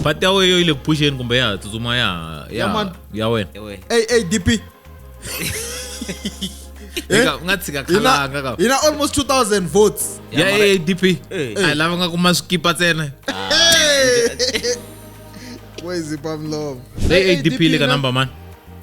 pati ya weyo yi le phuxeni kumbe ya ha tsutsuma ya ha- ya Ya ha- mani. ya wena ewe Hey, hey, DP. Eh? Eka, u nga tshika Hina, khalanga ka hina almost 2000 votes. ya Ya mara- adp Eh. a hi lava nga kuma swikipa tsena Hey! Where is it, Pam Love? leyi adp le ka number mani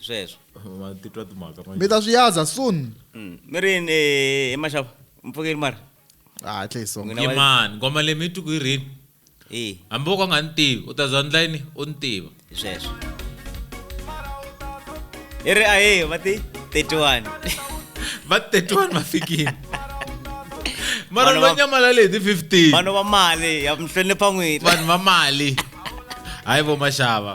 sweswo ma titwa timhaka mi manje ta swi yaza soon Mm. mi ri yini eh, hi maxava mpfukeli mara Ah, hatle hi songa N'wina wa- yimani ngoma leyi mi yi twi ku yi rini Eh, hambi wo ka u nga ni tivi u ta za ndla yini u ni tiva hi sweswo i ri ahe va ti 31 va 31 va fikile mara Vanhu va va- nyamalale hi ti 15 vanhu va mali ya mi hlonipha n'wina vanhu va mali hayi vo maxava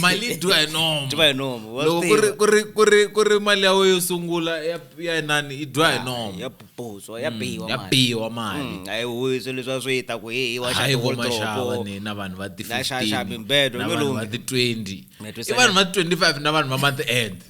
mali yi dyiwa hi nomo dyiwa hi nomo wa loko swi ku ri tiva. ku ri ku ri ku ri mali ya wena yo sungula ya ya inani yi dyiwa hi nomo ya puputswa ya biwa ya mali. biwa mali Mm, a hi huwi swilo leswi va swi ta ku hi hi wa hayi vo maxava xaopo ni na vanhu va ti Na xaxa 15 mimbedo, na vanhu va lolunge. ti 20 Na i twisana. vanhu va ti 25 na vanhu va month end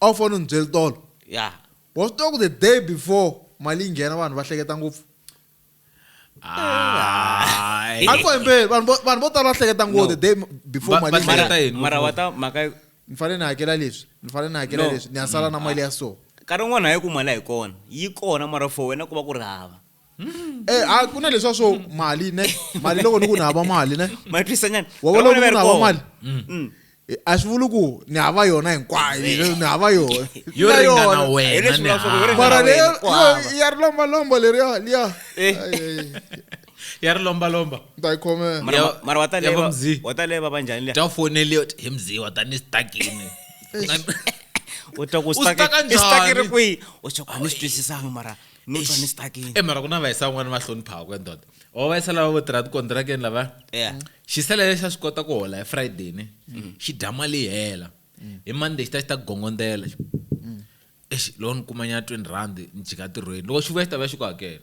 a wu fanele u ni byeli tolo ya wa swi tiva ku the day before mali yi nghena vanhu va hleketa ngopfu Ai. a ni kombeli vanhu vo- vanhu vo tala va hleketa ngopfu the day before Va- mali va yi hleketa nghena yini? mara wa ta mhaka ni fanele ni hakela leswi ni fanele ni hakela No. leswi ni ya sala na mali ya so nkarhi wun'wana hayi ku mali a yi kona yi kona mara for wena ku va ku ri hava Eh, ah, ku na leswiwa swo mali ne mali loko ni ku ni hava mali ne matwisanyana wa vona loko ni hava mali mm. eh, a swi vuli ku ni hava yona hinkwayo eh. ni hava yona yo ringana wena mara leyo ya ri lombalomba leriya liya ya ri lombalomba mara wataleye va va njhani ta foneliyo hi mzi wa tani stakini u twa ku stakiri kwihi u twa ku a ni swi twisisanga mara ni twa ni stuckini e mara ku na vayisa van'wana va hloniphaka ku endoda o vayisa lava vo tirha tikontirakeni lava Yeah. xisele lexi a swi kota ku hola hi friday ni xi dya mali yi hela hi monday xi ta xi ta gongondzela xi exi loko ni kumanyana twenty rand ni jika tirhweni loko xi vuya xi ta vuya xi ku hakela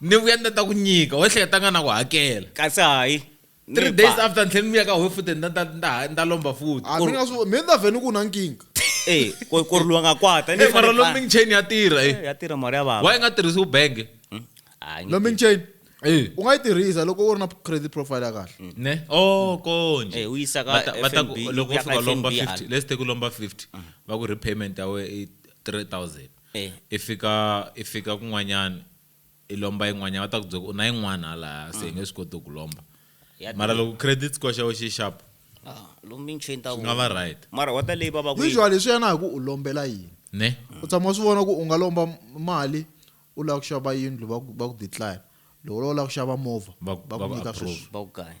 ni vuya ni ta ta ku nyika wo ehleketa nga na ku hakela kasi hayi three days after ni tlhela ni vuya ka wehe futhi ni ta ni ta ni ta lomba futhi a mi nga swi mi ni ta vhe ni ku na nkinga e ku ku ri luwa nga kwata ni mara lombing chain ya tirha e ya tirha mara ya vava wa yi nga tirhisi ubenge hmm? lombing chain Eh. u nga yi tirhisa loko u ri na credit profile ya kahle mm. ne o oh, konje eh, u yisa ka fnb loko u fika lomba 50 let's take u lomba 50 mm. va ku repayment ya we i 3000 I fika i fika kun'wanyana i lomba yin'wanyana va ta ku byela ku u na yin'wana halaya se hi nge swi koti ku ku lomba Ya mara durha. loko credit score xa we xi xapu Ah, lomu michini ta swi nga va vona. right mara wa ta leyi va va ku yi- usually swi ya na hi ku u lombela yini ne u tshama u swi vona ku u nga lomba m- mali u lava ku xava yindlu va ku va ku decline loko u lava ku xava movha Va- va va ku ku nyika approve. sweswi va ku kahle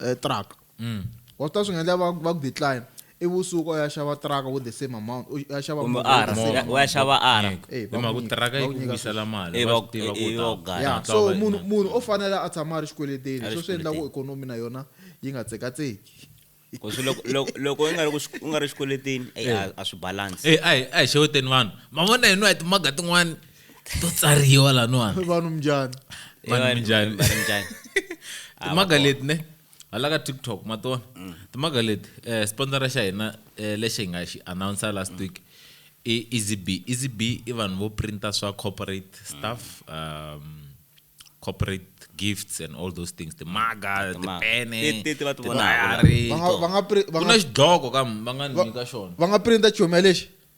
eh, truck mm. wa swi ta swi nga endla va va ku decline i vusuku u ya xava truck with the same amount u ya xava kumbe movha with the ara same u ya xava ara Eh, va himhaka ku nyika- tiraka yi va ku ku nyika vuyisela sweswo. mali Eh, va va- swi tiva eh, ku eh, u ta- va gaya. ya Hatla so va- munhu munhu o fanele a tshama a ri xikweleteni A ri swo swi endla ku xikweleteni. ikonomi na yona yi nga tsekatseki Ku swi loko- loko- loko u nga ri ku xi- u nga ri xikweletini eyi, a- a swi balance Eh, a hi a hi xeweteni vanhu mavona hino a hi timaga tin'wani to tsariwa laniwani vanhu mnjani Vanhu Vanhu- njhani? vanhu njhani? Ah, timhaka leti ne hala ka tiktok ma tona Mm. timhaka leti um sponsora xa hina um lexi hi nga xi announsa last week i easy b easy b i vanhu vo printa swa corporate Mm. stuff um, corporate gifts and all those things timaga Timaga. tipene Ti- ti- ti va ti vonaka. tidayari, Va nga- va nga pri- va ku nga- na xidloko kam va nga ni nyika xona va nga printa chomi ya lexi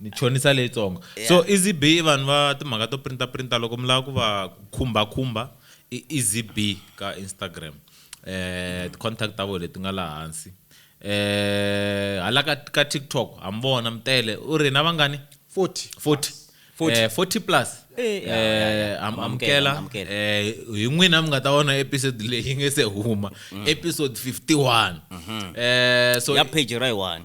ni chonisa leyitsongo yeah. so ezb i vanhu va timhaka to printa printa loko mi lava ku va khumba khumba i ezb ka instagram eh contact ta vona leti nga laha hansi eh hala ka ka tiktok hambona mtele u ri na vangani 40 40 40, eh, 40 plus eh, eh, amukela eh, hi n'wina mi nga ta vona episode leyi yi nge se huma mm. episode 51 mm-hmm. eh, so ya page ra yi one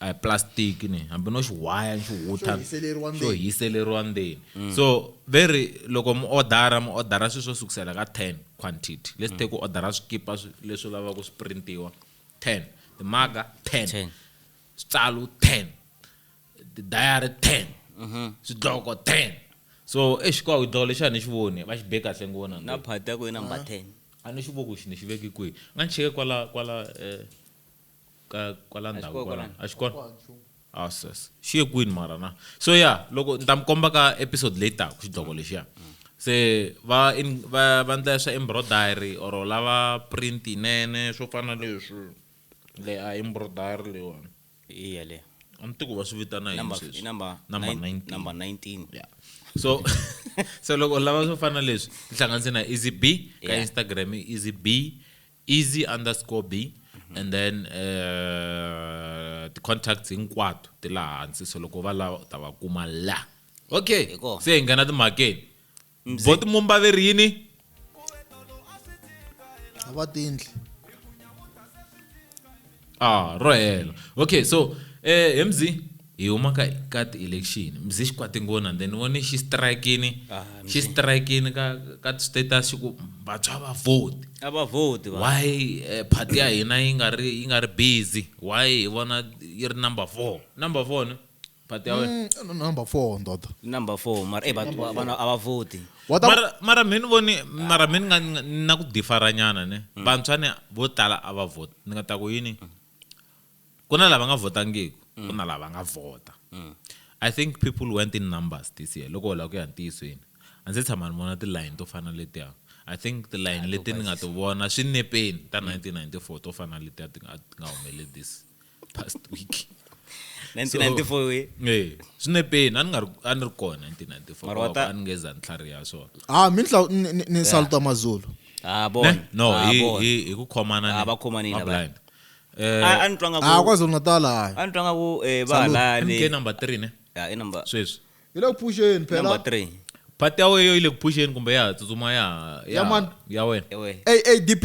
a hi plastic ni hambi no xiwhaya ni xiwuta xo hiseleriwa ndzeni mm. so ve ri loko mi odara mi odara swilo swo sukusela ka ten quantity let's take ku mm. odara swikipa leswi lavaka ku swi printiwa ten timaga ten switsalo ten tidayari ten mm-hmm. swidloko ten so exikwawu dloko lexi a ni xi voni va xi be kahle ngo vona na phati ya ku yi number ten a ni xi voko xi ni xi veke kwihi nga ni cheke kwala kwala um ka kwala ndhawu kwala a xi kona a sas xi ye kwini mara na so ya loko ni ta mi komba ka episode leyi taka xidloko lexiya se va in va va ndla swa embroidery or lava print yinene swo fana leswi le a embroidery leyiwani hi yaleyo a ni tiku va swi vitana yini number sweswi number number nine- 19 number 19 yeah so so loko lava swo fana leswi tihlanganise na easy b ka Yeah. instagram i easy b easy underscore b and then uh, ti-contacts hinkwato ti laha hansi so loko va lava u ta va kuma la okay Hi kona. se hi nghena timhakeni bo timumbaveri yini a va tindli ah ro hela okay so eh he mzi hi huma ka ka ti-election mzi xi kwate ngona then vone xi strikini Ah, xi strikini ka ka ti-status xi ku vantshwa va vote a va vhoti va why eh, party ya hina yi nga ri yi nga ri busy why hi vona yi ri number four number four ne But they are- Mm, no, number four ndoda number four mara eh, vanhu va- vanhu a va voti Wata- mara mara mi ni voni mara mi ni nga ni nga- ni na ku diferanyana ne Mm. vantshwa ni vo tala a va vhoti ni nga ta ku yini ku na lava nga vhotangiku Mm. ku na lava nga vhota i think people went in numbers this year loko hola ku ya ntiyisweni a ndzi tshama ni vona tilayini to fana letiya i think tilayini leti ni nga ti vona swinepeni ta 1994 to fana letiya ti nga ti nga humeleli this past week 1994 we e swi ne peni a ni nga ri a ni ri kona 1994 Mara wa ta- a ni nge za ni tlhariha swona ah mi ntlaw- ni- ni- ni salutwa mazulu ah bona Ne? no Ah, hi bona. hi hi ku khomana Ah, ni- va khomanile ma va. blind eh Ah, a ni twa nga ah ku kwazulu natal hayi a ni twa nga ku eh, va mk halale number 3 ne Ah, i number sweswi yi le ku phuxeni number phela 3 part ya weyo yi le ku phuxeni kumbe ya ha tsutsuma ya ha- Ya ya mani? ya wena ewe adp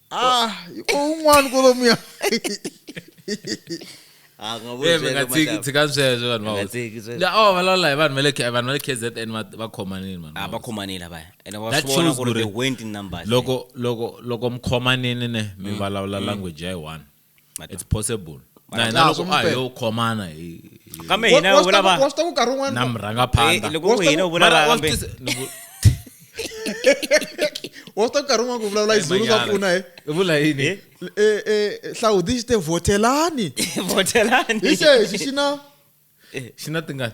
Ah, ko un'wana kolomu ya. Ah, nga vo Eh, mi nga tshiki sweswo. tshika sweswo vanhu va Nga hosi. tshiki sweswo. Ya, oh valawula hi vanhu va le K- vanhu va le kzn va- va khomanile vanhu va Ah, va hosi. khomanile vaya. Ene wa That swi vona shows ku ri ku ri- they went in numbers. loko loko loko mi khomanini ne mi vulavula language ya yi one it's possible Mara na hina laha loko swi a hi mpela. yo khomana hi hi- kambe Wa- hina wa swi vula ta ku- wa va swi ta ku nkarhi wun'wana na Eh, murhangaphandha loko ku hina u vula Mara va wa swi kambe tisa- ni ku- wa swi ta ku nkarhi wun'wana ku vulavula hi zulu swa Manyala. pfuna he I vula yini Eh? Eh, eh, hlawudi xi te votelani votelani hi xexi xi na xi na tingani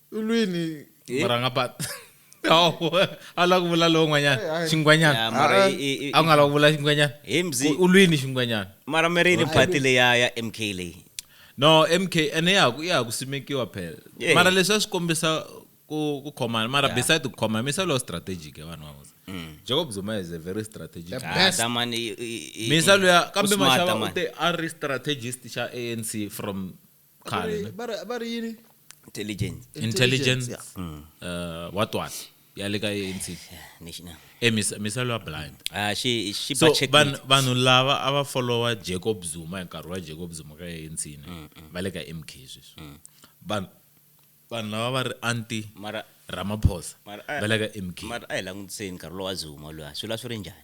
ulwini murhangapani a la ku vula lowun'wanyana eh, xingwanyana a nga la ku vula xingwanyana ulwini xingwanyana mara mirini pati leya ya mk leyi no mk ene ya ya ha ku simekiwa phela eh. mara leswi a swi kombisa ku ku khomana mara yeah. beside ku khomana misa lo strategic ya vanhu van'wana mm. Jacob Zuma is a very strategic the best ah, man misa lo ya kambe mashava u te a ri strategist xa ANC from khale ne? va ri- va ri yini intelligence intelligence yeah. Mm. uh, watwala ya le ka anc national e misa- misalo ya blind ah she she so budget vanhu meat. vanhu lava a va followa jacob zuma hi nkarhi wa jacob zuma ka anc ne Mm, va le ka mk sweswi vanhu vanhu lava va ri anti mara ramaphosa Mara- va le ka mk mara a hi langutiseni nkarhi lowa zuma luya swi la swi ri njhani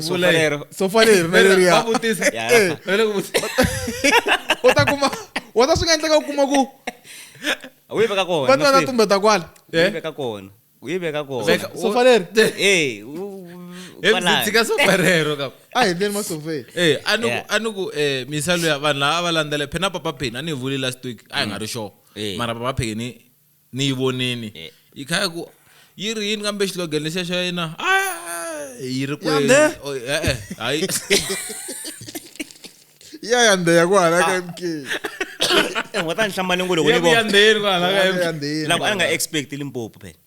sofa lero sofa leri na leriya va vutisa eh. va le ku vutisa u ta kuma u ta swi nga endleka u kuma ku u yi veka kona va twana tumbe ta kwala u yi veka kona u yi veka kona sofa leri eh tshika sofa rero ka a hi ndeni masofeni eh a ni ku a ni ku eh misalo ya vanhu lava va landzele phena papa pheni a ni vulile last week a hi nga ri sure eh. mara papa pheni ni yi vonini eh. yi kha ku yi ri yini kambe xilogene lexiya xa yena yi ri kwele oh, e-e hayi ya ya ndeya ku hala ka mk ngo ta ni hlambanengo loko ni voyandeyeni ku hala ka mk loko a nga expect limpopo phela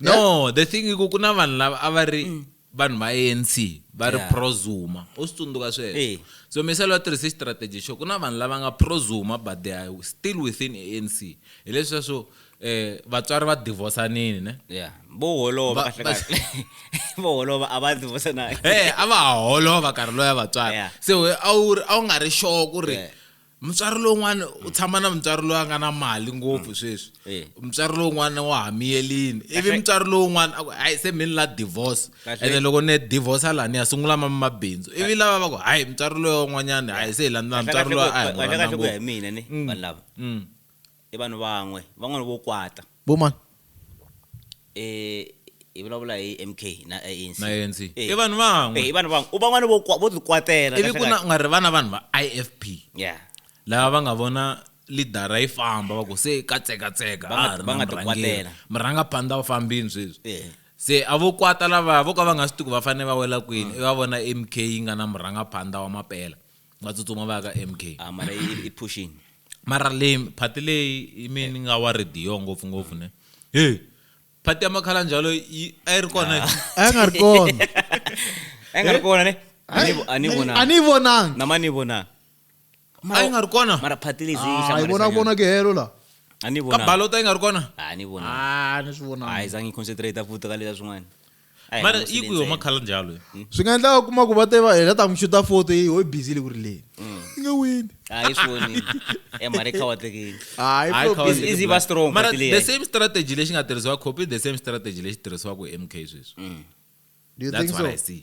no the thing iku ku na vanhu lava a va ri mm. vanhu va anc va ri prozuma u swi tsundzuka sweswo so miselo va tirhise xitrategi xo ku na vanhu lava nga prozuma but they are still within anc hi leswi sweswo eh vatswari va divorsanini ne yeah bo holova kahle kahle bo holova a va divorsananga eh a va holova karhi loya vatswari se a wu a wu nga ri sure ku ri mutswari lowun'wana u tshama na mutswari loyi a nga na mali ngopfu mm. sweswi eh. mutswari lowun'wana wa ha miyelini ivi mutswari lowun'wana a ku hayi se mi ni la divorce ene loko ni divorce a laha ni ya sungula ma mabindzu ivi lava va ku hayi mutswari loyi wan'wanyana hayi se hi landzela mutswari loyi a hi n'wanakahle ku ya hi mina ni mm. vanhu lava mm. I vanhu van'we, van'wana vo kwata. Vo mani? E, hi vulavula hi MK na ANC. Na ANC. E, I vanhu van'we. E, i vanhu van'we. U van'wana vo kwa, vo tikwatela. Ivi ku na, u nga ri vana vanhu va IFP. Yeah. Lava va nga vona lidara yi famba va ku se ka tsekatseka a ha ri na murhangeri murhangaphandla u fambini sweswi se a vo kwata lavaya vo ka va nga swi tiku va fanele va wela kwini i va vona mk yi nga na murhangaphandla wa mapela va tsutsuma va ya ka mk ah mara i- i pushini mara leyi phati leyi i mi ni nga wa rediyo ngopfungopfu ne he phati ya makhala njalo yi- a yi ri kona yi- a ya nga ri kona a yi nga ri kona ne A ni vo- a ni a vonanga ni yi vonangi nama ni vonanga a yi nga ri kona mara phati lezi yi Ah, yi vona hlanganisa vona ke helo la a ni ka vonanga balota yi nga ri kona a ni vonanga Ah, ni swi a vonangi yi zangi yi concentrate futhi ka leswa swin'wana Ayi, mara musi yi ku yo lentsena. makhala njalo yo. swi nga endlaka kuma ku va te va hela ta n'wi xuta foto yi ho bizile ku ri leyi yi nga wini a hi swi vonile e mhani kha wa tekile hayi Hayi, Flo, Khawatsi. Is- is he va strong Mara futhi leyi? the same strategy lexi nga tirhisiwa copy the same strategy lexi tirhisiwaka hi mk sweswi do you that's think what so i see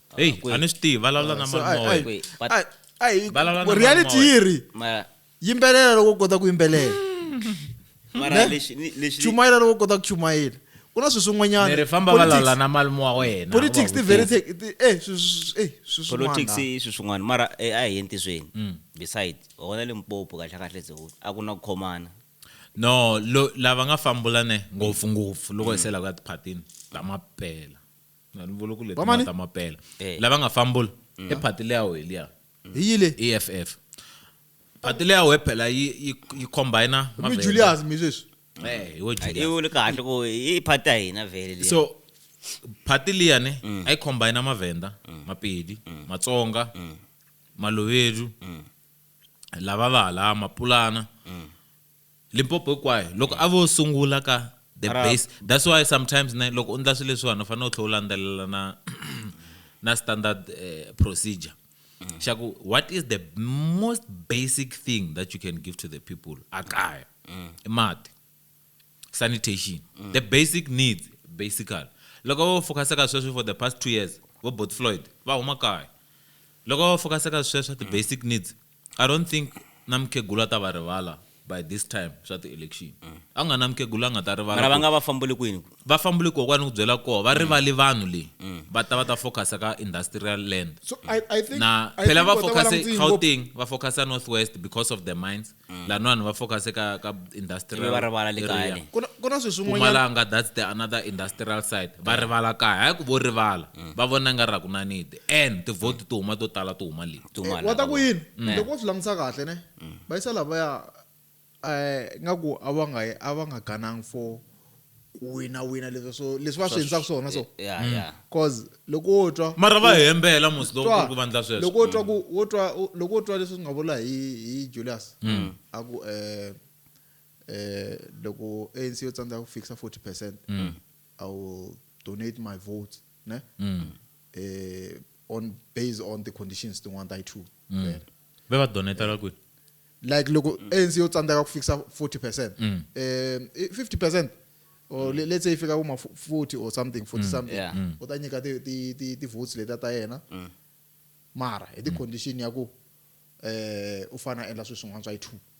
heyi a ni swi tivi vulavula na So, mali ai- moya ai- Wait, but- ai- ai- Vulavula na reality mali moya. yi ri mara yimbelela loko u kota ku yimbelela mara Ne? lexi ni- lexi chumayela loko u kota ku chumayela ku na swilo swin'wanyana ni ri famba Politics- vulavula na mali moya wena politics ti u va very vutisa. tech- ti- eh, swi- swi- eh, swi swin'wana. politics i swilo swin'wana mara eh, a hi entizweni Mm. beside hona limpopo kahle kahle ze a ku na ku khomana no lo- lava nga fambulane ngopfungopfu loko hi sela ku ya tiphatini ta mapela Na ni vula ku leti Vamani? nga ta mapela Eh. lava nga fambula i phati leya wehe liya hi yile eff phati leya wehe phela yi yi yi combina mi mavele. julius mi sweswi Eh, hi we Julius. i vule kahle ku i phati ya hina vhele liya so phati liya ne a yi combina mavenda mapedi matsonga malovedu lava va hala mapulana Limpopo hinkwayo loko a vo sungula ka the Ara- base that's why sometimes ne loko u ndla swilo leswiwani u fanele u tlhela u landzelela na na standard eh, procedure xa ku what is the most basic thing that you can give to the people a kaya i mati sanitation the basic needs basically loko vo focuse ka sweswo for the past two years vo bot floyd va huma kaya loko va focuse ka sweswo the basic needs I don't think na mukhegula a ta va rivala by this time swa ti-election a ku nga na mukhegula a nga ta mara va rivala nga va fambuli kwini va fambile koho kwani ku byela koho va rivali vanhu leyi va ta va ta focusa ka industrial land so i, I think na I phela think va vo ta va focuse langutile ngopfu. gauteng va focusa north west because of the mines lanwani va focuse ka ka ivi industrial va rivala le kaya area. le ku na- ku na swilo swin'wanyana pumalanga that's the another industrial side va rivala kaya hayi ku vo rivala va vona nga ra ku na nidi and tivhoti ti huma to tala ti huma leyi Dumala, eh, wa ta ku yini mm. loko wo swi langutisa kahle ne mm. va yisa lavaya um eh, nga ku a va nga a va nga ganangi for ku wina wina leswi so leswi va swi endlaka swona so cause loko wo twa mara va hembela musi loko ku vandla sweswo loko wo twa ku wo twa loko wo twa leswi swi nga vula hi hi Julius mm. a ku eh eh loko ANC yo tsandzeka ku fixa 40% mm. i will donate my vote ne mm. eh, on based on the conditions tin'wana ta yi-two mm. ve va donetela eh, kwini like loko anc yo tsandzeka ku fikisa 40 percent um 50 percent or mm. let's say if you got 40 or something 40 mm. something yeah. mm. u ta nyika ti ti ti ti votes leta ta yena mm. mara hi ti mm. condition ya ku eh u fana endla sweswi n'wana swa yi two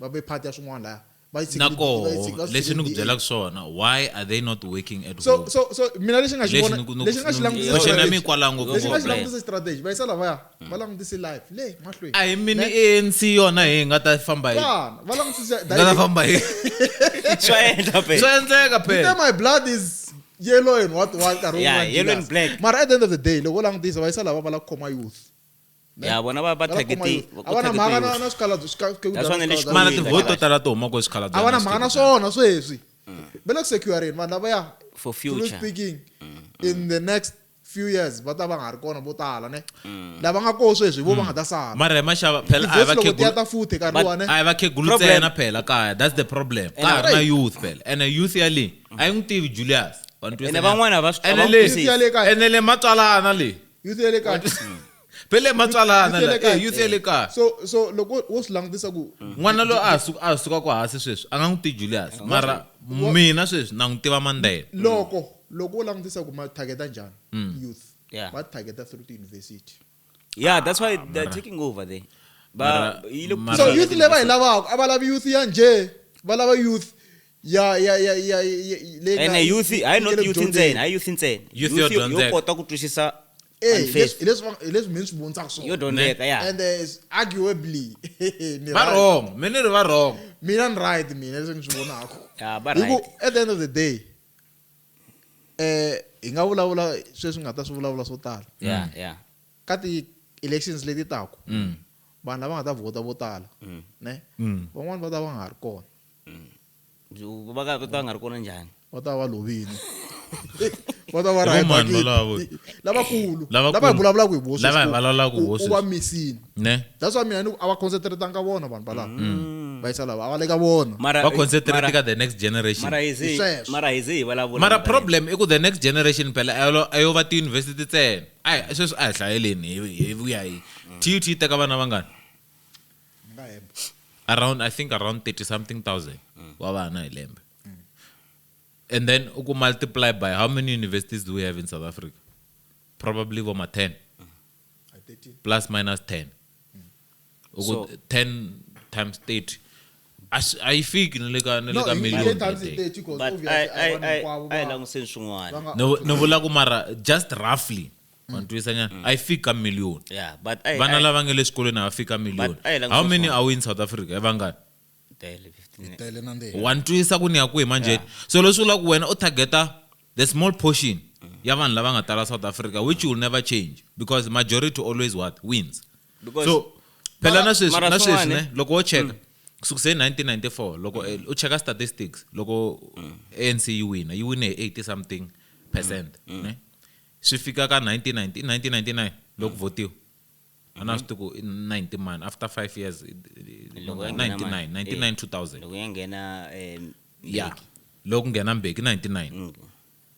va ve part ya swin'wana laya va yi na koho leswi ni ku byelaka swona why are they not working at so home so so mina lexi nga xi vona lexi nga xi langutisa na mi kwala ngopfu lexi nga xi langutisa strategy va yisa lavaya va langutise life le mahlweni a hi mini ANC yona hi nga ta famba hi va langutisa nga ta famba hi swa endla pe swa endleka pe my blood is yellow and what what nkarhi wun'wana yellow and black mara at the end of the day loko langutisa va yisa lava va la khoma youth Ne? ya vona va va Va la khoma targeti- yona. va- A va na va mhaka na- targetiwa. na swikhalabyo- swika- swikhalabyo- That's why ni le swikhalabyo- mana Xikwembu. tivhoti to tala to huma ko swikhala a va na mhaka na swona sweswi va le ku securing vanhu lavaya For truly future. speaking in the next few years va ta va nga ri kona vo tala ne lava nga koho sweswi vo va nga ta sala mara hi maxava phela a hi Tivhesi loko ti ya ta vakhegula futhi nkarhi But- luwani a hi vakhegulu Problem. ntsena phela kaya that's the problem ka ha ri na Right. youth phela ene youth yale a yi n'wi tivi julius Wa ni twisisa Ene na? van'wana va swi- Ene va n'wi le- twisisi. Youth ya le kaya. ene le matswalana le youth ya le kaya phele matsalana Youth ya le la kaya. eh, youth ya le kaya so so loko wo swi langutisa ku n'wana loyi a ha su- a ha sukaka hansi sweswi a nga n'wi tivi julius mara mina sweswi na n'wi tiva mandela loko loko wo langutisa ku ma targeta njhani youth Yeah. va targeta through tiyunivhesiti yeah that's why they're taking over there Mara- ba yi le ku mara- so youth leyi va yi lavaka a va lavi youth ya njhe va lava youth ya ya ya ya ya- leyi nga- ene yi- youth yi hayi not fikele ku youth dyondzeni. ntsena hayi youth ntsena Youth yo yo dyondzeka. kota ku twisisa Eh, hi unfair. leswi- hi leswi va- hi leswi mina swi vontsaka swona. yo dyondzeka ya and uh, it's arguably ni va right. wrong me ni ri va wrong mina ni right mina leswi ni swi vonaka Ya, va Hi ku, right. at the end of the day eh hi nga vulavula sweswi nga ta swi vulavula swo tala ya ya ka ti-elections leti taku vanhu lava nga ta vhota vo tala ne van'wani va ta va nga ha ri kona Byi- va ka va ta va nga ri kona njhani va ta va va lovile va ta va Hi vo rhaya mani bakiti. valavo? lavakulu Lavakulu. lava hi vulavulaka hi vo Lava hi vulavulaka hi vo sweswi. va misini ne that's why mina ni ku a va concentratanga vona vanhu valava va yisa lava a va le ka vona mara va concentrate mara- ka the next generation mara hi ze- Hi sweswo. mara hi ze hi vulavula mara mhaka leyi. problem i ku the next generation phela a yo- a yo va tiyunivhesiti ntsena a hi- sweswi a hi hlayeleni hi hi vuya hi tut yi teka vana vangani ni nga hemba around i think around 30 something thousand wa vana hi lembe and then u ku multiply by how many universities do we have in south africa probably vo ma 10 I 13 plus minus 10 u ku So- 10 times 30 a swi- a yi fiki ni le ka ni le no ka hi million ye times that day. 30 because but obviously a hi vanhu hinkwavo va- languseni swin'wana va nga- ni vu- ni vula ku mara just roughly wanitwisa nyana mm. a yi fiki ka million vana lava nge le xikolweni a va fiki ka million how many are we in south africa i vangani wanitwisa ku ni ya kwihi manjheni so leswi vulaka ku wena u targeta the small portion ya vanhu lava nga tala south africa which will never change because majority always what wins so phela na sweswi na sweswi ne loko wo cheka mm. kusukise 1994 loko eh, u cheka statistics loko mm. anc yi wina yi wine hi 80 something percent mm. ne swi fika ka 1990 i 1999 loko votiwa a na swi tiku 90 mani after 5 years 99 99 2000 loko ya nghena eh, ya loko nghena mbeki 99 mm.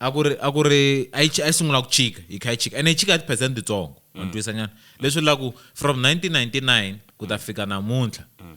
a ku ri a ku ri a yi sungula ku chika yi kha yi chika ene yi chika tiphesente titsongo mm. wa ni twisanyana leswi laku from 1999 ku ta fika namuntlha mm.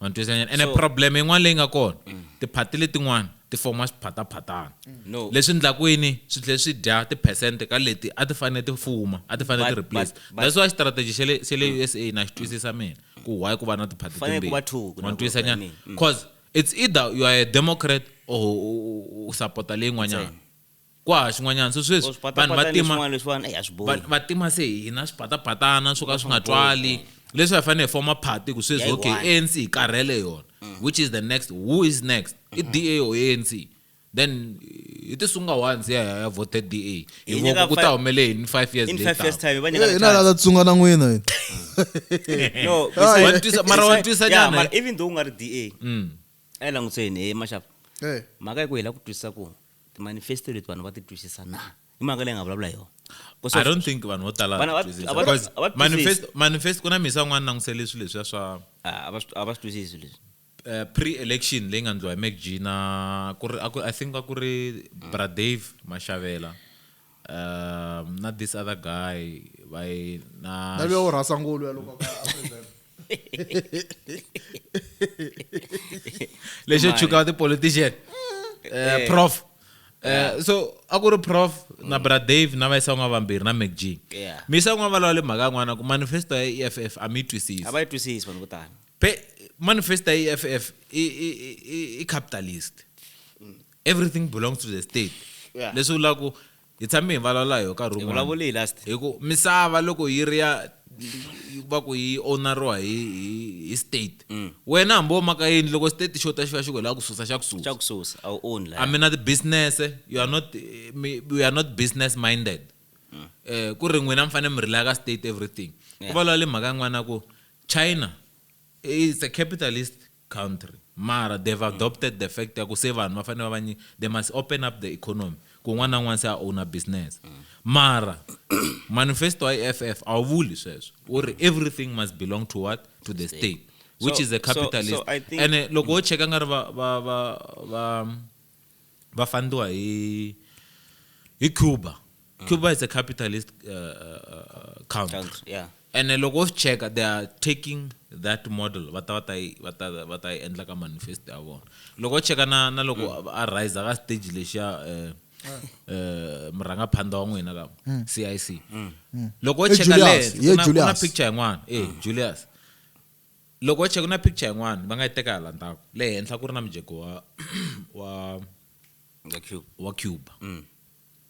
ma ni twisa nyana ene So- problem yin'wana leyi nga kona tiphati letin'wana ti foma swiphataphatana No. leswi ndlaku yini swi tlhela swi dya tiphesente ka leti a ti fanele ti fuma a ti fanele ti But- replace but- but- that's why strategy xa le xa le usa na xi twisisa mina ku why ku va na tiphati Fanele ku va two, ku na ma ni ku- twisa I nyana mean, mm. cause it's either you are a democrat or u- u- u support leyin'wanyana kwa ha xin'wanyana so sweswi vanhu va tima va tima se hina swipatapatana swo ka swi nga twali leswi hi fanele hi foma party ku sweswi okay anc hi karhele yona mm. which is the next who is next i mm-hmm. da or anc then hi ti sunga once ya ya vote da hi voko ku ta humele yini five years laterhinalata tsunga na n'wina mara wa twisa nyana even though u nga ri da mm. a yi langutiseni he maxava mhaka yi ku hi la ku twisisa ku timanifesto leti vanhu va ti twisisa na i mhaka leyi nga vulavula hi yona i don't think vanhu vo tala manifest ku na misa un'wana langutisele swilo leswiya swa ah, a va swi twisisi leswi eh, pre-election leyi nga ndliwa hi macg na ku ri i think a ku ri bradave mashavela um na this other guy by na na leo rasa ngolo ya loko ka present lexo chuka the politician uh, prof Uh, so a ku ri prof mm. na bra dave na va yisawun'wa vambirhi na mac g yeah. mi yisawun'wa valava le mhaka yin'wana ku manifesto ya e f f a mi yi twisisi a va yi twisisi vanhu vo tala manifesto ya e f f i capitalist everything belongs to the state Yeah. leswi vulaka ku hi tshame hi vulavula hi yo nkarhi wun'wana vulavule hi last hi ku misava loko yi ri ya yi- va ku yi owneriwa hi hi- hi state Mm. wena hambi wo maka yini loko state xo ta xi va xi ku hi lava ku susa xa ku susa xa ku susa a wu own la I mean, the business, eh, you are not, eh, me- we are not business minded. Eh, ku ri n'wina mi fanele mi rely ka state everything ku Yeah. vulavula mhaka yin'wana ku china is a capitalist country mara they've adopted the fact ya ku se vanhu va fanele va va they must open up the economy ku un'wana na un'wana se a owner business mara manifesto wa EFF a wu vuli sweswo wu ri everything must belong to what to the state which so, is a capitalist so, so ene loko wo cheka nga ri va va va va va fandiwa hi hi cuba mm. cuba is a capitalist uh, uh, country, country yeah. ene loko wo swi cheka they are taking that model va ta va ta va ta va ta endla ka manifest ya vona loko wo cheka na na loko mm. a riser ka stage lexiya um um murhangaphandha wa n'wina ka cic loko wo cheka lena picture yin'wana e julius Loko ho check na picture yin'wana va nga yi teka hala ndzhaku le henhla ku ri na mujeko wa wa The cube. wa Cuba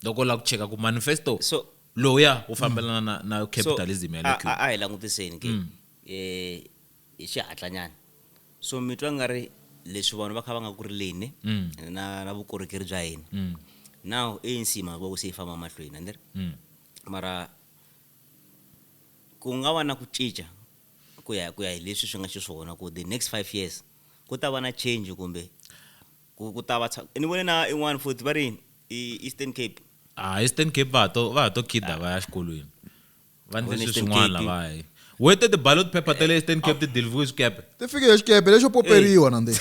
loko u lava ku cheka ku manifesto So- lowuya wu fambelana na, na So, capitalism ya a- le a Cuba a hi langutiseni ke eh, hi xihatlanyana so mi twa nga ri leswi vanhu va kha va nga ku rileni na na vukorhokeri bya hina now anc hi mhaka ku se yi famba mahlweni andiri mara ku nga va na ku cinca ku ya ku ya hi leswi swi nga xiswona ku the next five years ku ta va na change kumbe ku ku ta va ni vone na in'wana futhi va ri eastern cape ah eastern cape va to va to kida va ya xikolweni va ndle swi swin'wana lavayi wete the ballot paper ta le eastern cape ti delivery swikepe ti fike xikepe lexo poperiwa na ndzi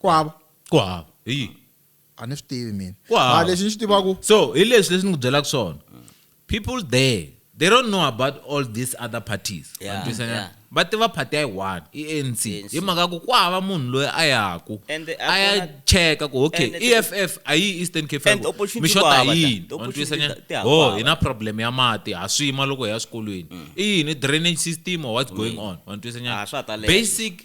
ku hava ku hava hi yini a ni swi tivi mina Ku hava. mara lexi ni xi tivaku so hi leswi leswi ni ku byelaka swona people there they don't know about all these other parties Yeah, Wa twisisa na? yeah. va tiva party ya yi one i anc ANC. hi mhaka ku ku hava munhu loyi a yaku And the- a ya akona- cheka ku okay and the- eff a yi eastern cape And the opportunity mi ku xota hava, hi the- yini the Wa twisisa opportunity na? ti- ti hava. ho hi na problem ya mati ha swima loko hi ya swikolweni i yini drainage system or what's going on Wa twisisa na? Ah, swa ta leha. basic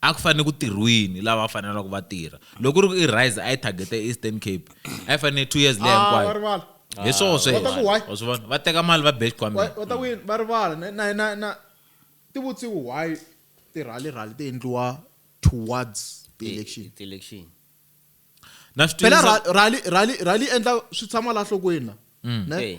A ku fanele ku tirhwini lava fanelaka va tirha. Loko ku ri ku i Rise a yi target Eastern Cape, a yi fanele two years leya ah, hinkwayo. Va rivala. Hi swona sweswo. Va teka mali va bex kwameni. Va ta win, va rivala. Na na na ti vutsiwi why ti rally rally ti endliwa towards the election. Ti election. Na swi Phela rally rally rally endla swi tshama la hlokweni la. Mm. Ne?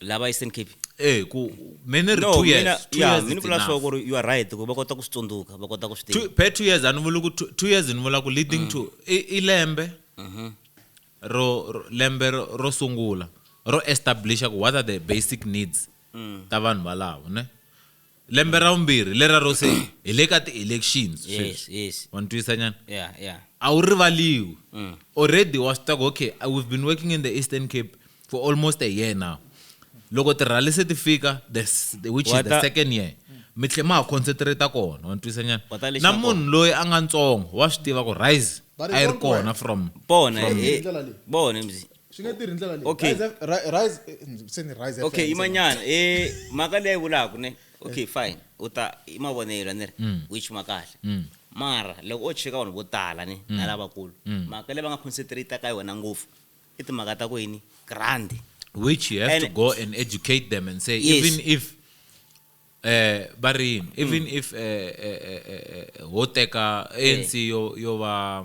lava Eastern Cape eh ku me ni ri no two mina years two ya years mi ni it's vula enough. swo ku ri you are right ku va kota ku swi tsundzuka va kota ku swi Two- tiva per two years a ni vuli ku two two years ni vula ku leading to i i lembe ro ro- lembe ro ro sungula ro establisha ku what are the basic needs ta vanhu valavo ne lembe ra vumbirhi leraro se hi le ka ti-elections yes sweswi yes wa ni twisa nyana yeah yeah a wu rivaliwi Mm. already wa swi tiva ku okay uh, we've been working in the eastern cape for almost a year now loko tirhali se ti fika the s- the- which is Wa the ta- second year mi tlhe ma ha concentrate kona wa ni twisa nyana Wa ta lexi na na munhu loyi a nga ntsongo wa swi tiva ku rise Ba ri a yi ri vongo, kona from pona Hi ndlela leyi. pona mzi swi nge tirhi ndlela Okay. leyi Rise- Ri- Rise- eh, se ni Rise okay FM, imanyana eh mhaka leyi vulaka ne okay fine u ta i mavonelo a ni ri u yi chima kahle mara loko o cheka vanhu vo tala ni na lavakulu mhaka leyi va nga concentrate ka yona ngopfu i timhaka ta ku yini grand which you have And- to go and educate them and say Yes. even if eh va ri yini even if eh, eh, eh, eh, eh, ho teka anc yo yo va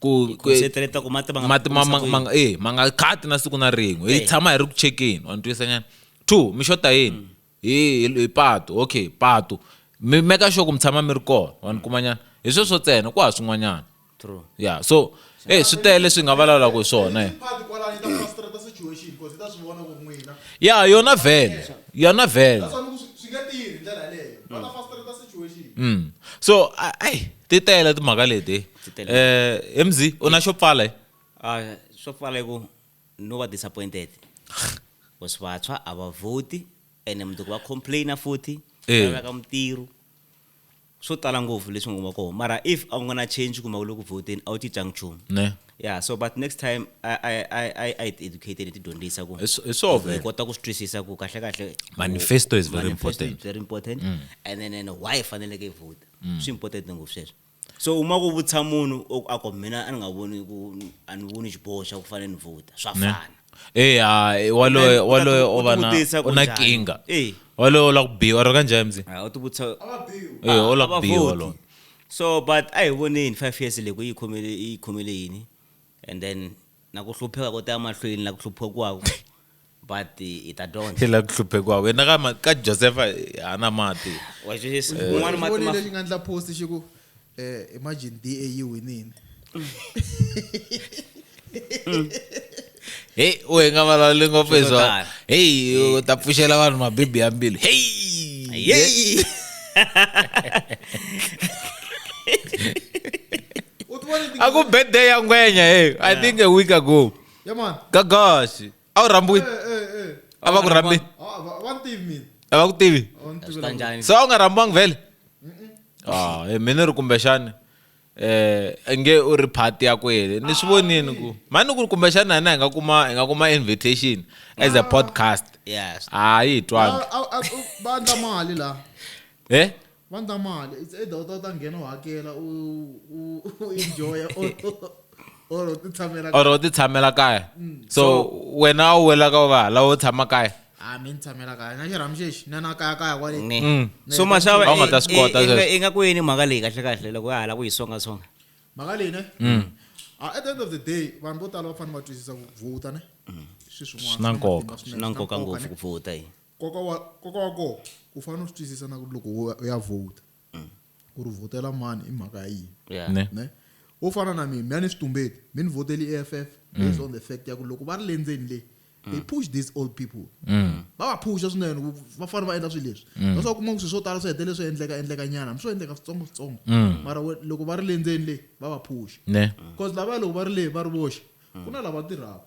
ku ku- concentrate ku mati ma nga mati ma- ma- khomisa ma nga- eh, ma nga khati na siku na rin'we hi Eh. tshama hi ri ku chekeni wa ni twisa nyana two mi xota yini hi hi- hi patu okay patu mi meka sure ku mi tshama mi ri kona wa ni kuma nyana hi sweswo tsena ku ha swin'wanyana True. ya so eh swi tele leswi hi nga vulavulaka hi swona eh. Part kwalani ta frustrate situation because ta swi vona ku ri n'wina. ya yona vhele yona vhele That's why ni ku swi- swi nge tirhi hi ndlela yaleyo. Va ta frustrate situation. Mm. so a- ai ti tele timhaka leti ti tele eh mz u na xo pfala eh? ah swo pfala ku no va disappointed was vatswa a va voti ene mundzuku va complaina futhi eh. va ka mutirho swo tala ngopfu leswi nga kona mara if a nga na change kumbe u le ku voteni a wu cincanga nchumu ne yeah so but next time i i i i educated ti dyondzisa ku hi swo vele kota ku twisisa ku kahle kahle manifesto is very important very important mm. and then and why faneleke i vota mm. swi important ngopfu sweswo so uma ku vutisa munhu o- a ku mina a ni nga voni ku a ni voni xiboho xa ku fanele ni vhota swa Ne. fana Eh, ah, eh, waloye Then, waloye u ta- u o va na tivutisa u na kunjhani? kinga Eh. waloye u la ku biwa ro kanjhani mzi Ah, u ti vutisa Eh, u la ku biwa Abavoti. waloye so but a hi voneni five years leyi ku yi khomele yi khomele yini and then na ku hlupheka ko ta ya mahlweni la ku hluphiwaku but hi ta dyondza hi la ku hluphekiwa wena ka ma- ka josefa hana mati wa xisa Eh. un'wana mati ma lexi nga ndla post xi ku eh, imagine da yi winile heyi u hi nga vulavuli ngopfu hi Swi to swona tala. heyi u ta pfuxela vanhu mabibi ya mbilu heyi yeyi u ti vona a ku birthday ya ngwenya heyi i think a week ago Yeah, man. gagaxi a wu rhambiwi Eh, eh, eh. a va ku rhambi Ah, va- va ni tivi mina. a va ku tivi Va ni tivi swi ta lava- njhani se a wu nga rhambiwangi vhele Ah, eh, mina ri kumbexani um nge u ri phati ya kwele ni swi vonini ku mani ku ri kumbexani hina hi nga kuma hi nga kuma invitation as a podcast yes hayi hi twanga Ah, ah, ah, va endla mali laha eh Vandla mali it's either u ta u ta nghena u hakela u u u enjoy or or u ti tshamela or u ti tshamela kaya mm. so wena u wela ka va lawo tshama kaya a ah, mi ni tshamela kaya na xirhamu xexi na na kaya kaya kwale mm. mm. so maxava u nga ta swi kota i nga ku yini mhaka leyi kahle kahle loko ya hala ku yi songa songa mhaka leyi ne ah, at the end of the day vanhu vo tala va fanele va twisisa ku vhota ne swi swin'wana swi na nkoka swi na nkoka ngopfu ku vhota yi Nkoka wa nkoka wa kona u fanele u swi twisisa na ku ri loko u ya vhota ku ri vhotela mani i mhaka ya yini Yeah. Ne. ne wo fana na mina mina ni switumbeti mi ni vhoteli i-eff based on the fact ya ku loko va ri le ndzeni le they push these old people va va phusha swinene ku va fanele va endla swilo leswi that's why u kuma ku swilo swo tala swi hetelele swi endleka endleka nyana hambi swo endleka switsongo switsongo mara we- loko va ri le ndzeni le va va phusha ne because lavaya loko va ri le va ri voxe ku na lava tirhaka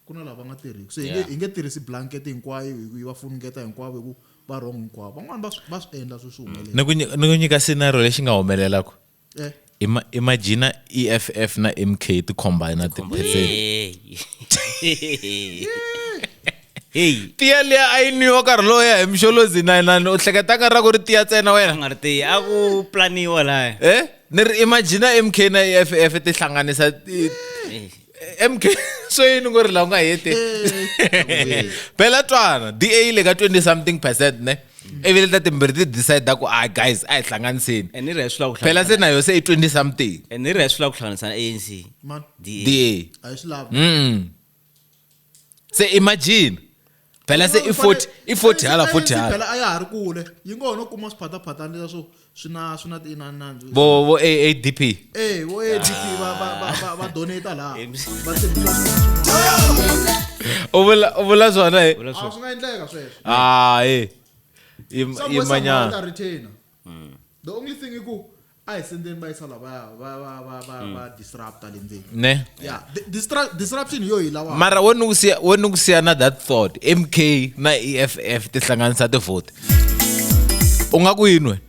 ku na lava nga tirhiki se hi nge tirhisi blanket hinkwayo hi va funungeta hinkwavo hi ku va wrong hinkwavo van'wani va swi endla swi swi humelela ni ku nyika scenario lexi nga humelelaka eh. imagina eff na mk ti combina tiphesent heyi tiya liya a yi nwiwa nkarhi lowo ya hi mixolozi na inani u hleketaka ra ku ri tiya tsena wena nga ri tiya a ku planiwa laya e ni ri imagina mk na eff ti hlanganisa mk swo yini ku ri laha u nga hete phela twana da yi le ka 20 something percent ne ivi leta timbirhi ti decide ku a guys a hi hlanganiseni phela se na yo se i 20 something ni ri hi swi lava ku hlanganisana anc da se imagine phela se i 40 i 40 hala 40 hala phela a ya ha ri kule yi ngo ho no kuma swiphathaphathana leswo swi na swi na tiinani nandzu vo vo adp eh vo adp va va va va donate la va tshembisa u vula u vula swona he vula swona swi nga endleka sweswo ah eh imanyana the only thing i ku a hi sendeni va yisa lavaya va va va va va disrupta le ndzeni ne yeah di- distra- disruption hi yo hi lawa mara wo ni ku siya- wo ni ku siya na that thought mk na eff ti hlanganisa tivhoti u nga ku yinwe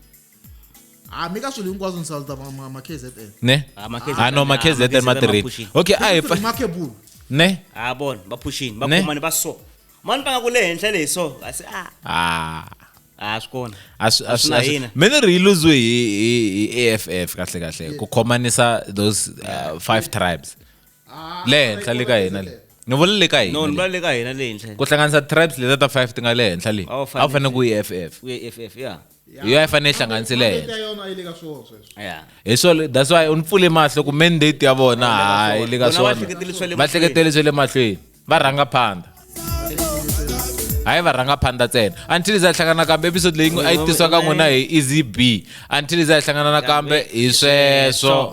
a mi ka swilo hinkwaswo ni salta ma- ma- ma kzn ne Ah, ma KZN, ah no ma ah, ma kzn KZN ma ma tirhile pushile. okay a hi pfa- makebulu ne Ah, bon, ba pushing, ba Ne? kumane ba so. mani panga ku le henhla leyi so a se a ah. a swi kona a swi- a swi- na a swi- hina me ni ri yi luziwe hi hi- hi aff kahle kahle ku khomanisa those uh, five tribes le henhla le ka hina le ni vula le ka no ni hina le. vula le ka hina le henhla ku hlanganisa tribes leta ta five ti nga le henhla le A wu a wu fanele fanele. ku yi aff u ye ff ya hi yo a yi fanele yi hlanganisile Mandate yena ya yona a yi le ka swona sweswo ya hi swona that's why u ni pfule mahlo ku mandate ya vona hayi le ka Vona va swona hleketele swa le va mahlweni. hleketele swa le mahlweni va rhanga phanda hayi va rhanga phanda ntsena until za hlangana kambe episode leyi a yi tisiwa ka n'wina hi easy b until za hlangana na kambe hi sweswo